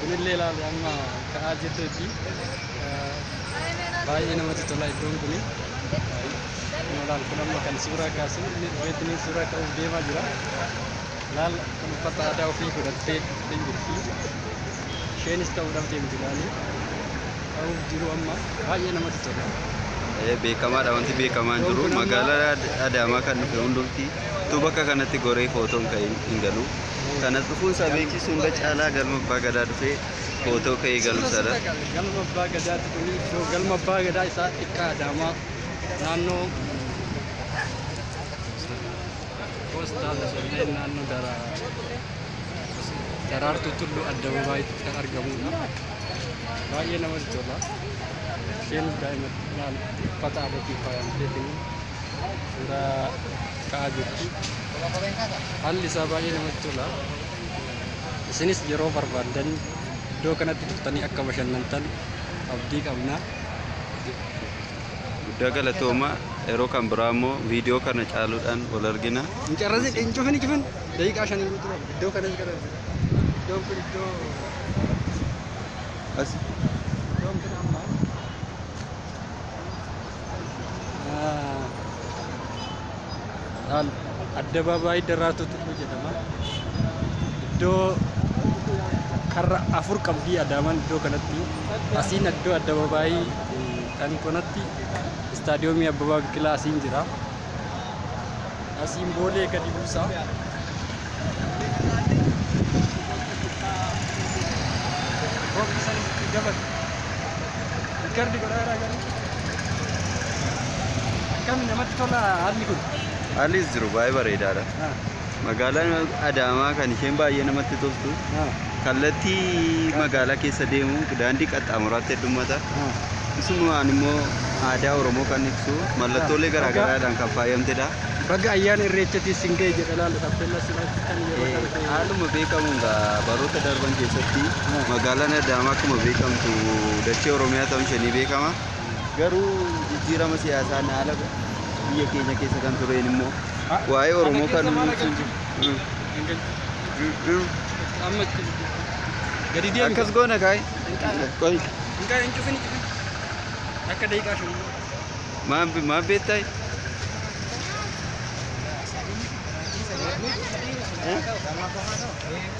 Kunillee ilaalu amma ka'aa jirteetti baay'ee namatti tola iddoon kuni. Kun amma kan suuraa kaasu inni dhufeetti suuraa ka'uuf deemaa jira. Laal kan uffata aadaa ofii godhattee dhufteen jirti. Isheenis ta'uudhaaf deemti laali. Ta'uuf jiru amma baay'ee namatti tola. Eh, beekamaadha wanti beekamaa hin jiru magaalaa Ad- adaamaa kan dhufe hundumti tu bakka kanatti goree footoon ka'ee hin galu kanas dhufuun isaa beeksisu hunda caalaa galma abbaa gadaa dhufee footoo ka'ee galu sana Galma abbaa gadaatti kun iddoo galma abbaa gadaa isaa xiqqaa adaamaa naannoo Poostaa Lasollee naannoo Daraartuu Tulluu Addababaayitti kan argamudha. Baay'ee namatti tola. Isheen daa'ima xiqqaan uffata aadaatiin faayamteetiin suuraa ka'aa jirti. Haalli isaa baay'ee namatti tola. Isinis yeroo barbaaddan iddoo kanatti dhuftanii akka bashannantan abdii qabna. Guddaa galatooma yeroo kan biraa immoo viidiyoo kana caaluudhaan wal argina. Hin carrasin, hin cufin, hin cufin. Daqiiqaa shaniin guutuu qaba. Iddoo kanas gara iddoon kun iddoo As iddoon kun amma ah, laal addabaabaayii Daraartuu Tulluu jedhama. Iddoo karra afur qabdii Adaamaan iddoo kanatti. Asiin iddoo addabaabaayii Kan konatti istaadiyoomii Abbabaa Biqilaa asiin jira. Asiin boolee gadi buusa. Roobni san itti dabale. Rikardi godhaadhaa garuu. Akkami namatti tola haalli kun? Haallis jiru baay'ee bareedaadha. Ah. Magaalaan Adaamaa kan isheen baay'ee namatti toltu kallattii magaalaa keessa deemu daandii qaxxaamuraatti heddummata. Isumaan immoo aadaa Oromoo kan ibsu mallattoolee garaagaraadhaan kan faayamtedha. Baga ayyaana irreechatiin sin ga'e jedha laala tappeellaa sin hojjetan yeroo Eh, darbe. Haaluma beekamuun gaa baroota darban keessatti magaalaan Adaamaa akkuma beekamtu dachee Oromiyaa ta'uun ishee ni beekama. Garuu jijjiirama siyaasaan haala biyya keenya keessa kan tureen immoo waa'ee Oromoo kan akkas goona kaa'e. Qoy maal maal beektaa?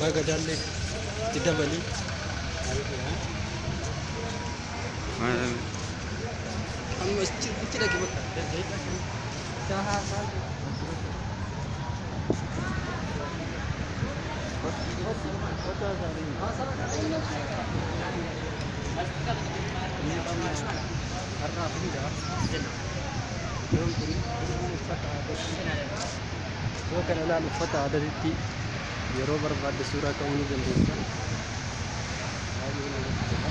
Baga dalle itti dabali. Amma itti dhagi bakka. Yoo kana ilaal uffata aadatitti yeroo barbaadde suuraa ka'uu ni dandeessa. Baay'ee namatti tola.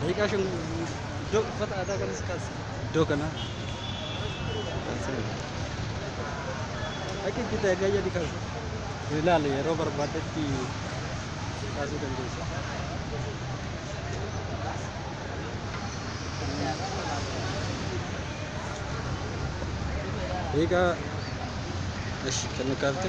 Daqiiqaa shan iddoo uffata aadaa kanas kaas iddoo kana kan seenu. Akka itti ta'e gayyadi kan ilaale yeroo barbaadetti kaasuu dandeessa. Daqiiqaa ashi kan kaafte.